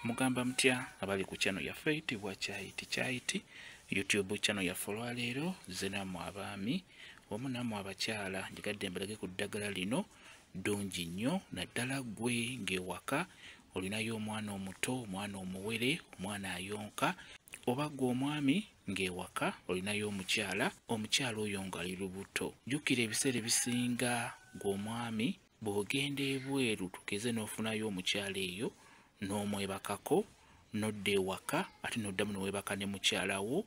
mugamba mutya abali ku channel yaffe eyitibwa kyayiti kyayiti youtube channel yaffe olwaleero ze namwe abaami wamu namwe abakyala njigadde mbalage ku ddagala lino ddungi nnyo naddala ggwe ng'ewaka olinayo omwana omuto omwana omuwere omwana ayonka oba gwe omwami ng'ewaka olinayo omukyala omukyala oyo ng'ali lubuto jjukira ebiseera ebisinga gwe omwami bw'ogenda ebweru tugeze n'ofunayo omukyala eyo n'omwebakako nodda ewaka ate n'oddamu newebaka ne mukyala wo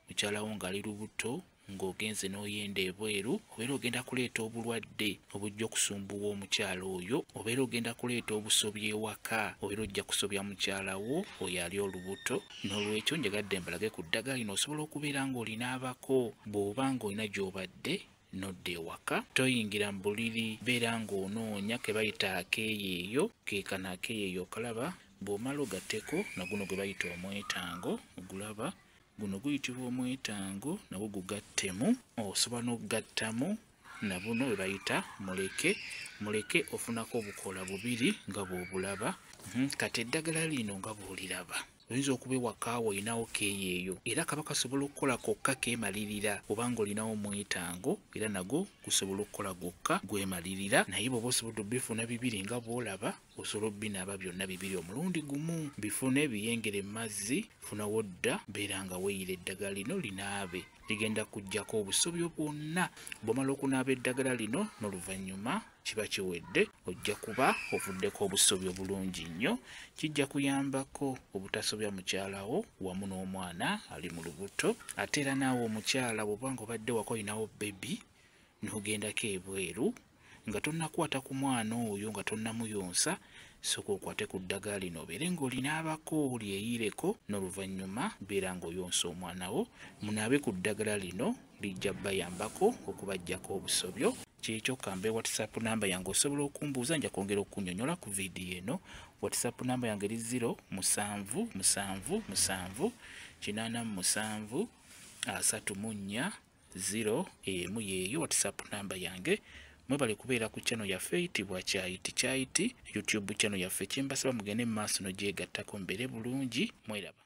mukyala wo ng'ali lubuto ng'ogenze n'oyenda ebweru obeera ogenda kuleeta obulwadde obujja okusumbuwa omukyala oyo obeera ogenda kuleeta obusobya ewaka obeera ojja kusobya mukyala wo oyo ali olubuto n'olwekyo njagadde mbalage ku ddagala lino osobola okubeera ng'olinaabako bw'oba ng'olina gy'obadde nodda ewaka toyingira mu buliri beera ng'onoonya ke bayita akeeyeeyo ke kano akeeyeeyo okalaba bw'omala ogateko na guno gwe bayita omwetango ogulaba guno guyitibwa omwetango nagwo gugattemu osobola n'okugattamu na buno bwe bayita muleke muleke ofunako obukola bubiri nga bw'obulaba mhm, kati eddagala lino nga bw'oliraba oyinza okuba ewaka olinawo keeyo eyo era kaba kasobola okukola kokka keemalirira kubanga olinawo omwetango era nago gusobola okukola gwokka gwemalirira naye bweoba osobodde obifuna bibiri nga bwolaba osobola obinaaba byonna bibiri omulundi gumu bifune biyengere mu mazzi funa wodda beera nga weyira eddagala lino linaabe ligenda kujjako obusobyo bwonna bwomala okunaaba eddagala lino n'oluvannyuma kiba kiwedde ojja kuba ovuddeko obusobi obulungi nnyo kijja kuyambako obutasobya mukyalawo wamu n'omwana ali mu lubuto ate era naawe omukyala bwoba nga obadde wako olinawo bebi n'ogendako ebweru nga tonnakwata ku mwana oyo nga tonnamuyonsa soka okwate ku ddagala lino obeere ng'olina abako olyeyireko n'oluvannyuma beera ng'oyonsa omwana wo munaabe ku ddagala lino lijja bayambako okubajjako obusobyo kyekyo kambe whatsapp namba yange osobola okumbuuza nja kwongera okunyonyola ku vidiyo eno whatsapp namba yange eri 0 musanvu musanvu musanvu kinana musanvu asatu munya 0 emu yeeyo whatsapp namba yange mwebale kubeera ku channel yaffe eyitibwa kyayiti kyayiti youtube channel yaffe kyembasaba mugende mu maaso nogyegattako mbeere bulungi mweraba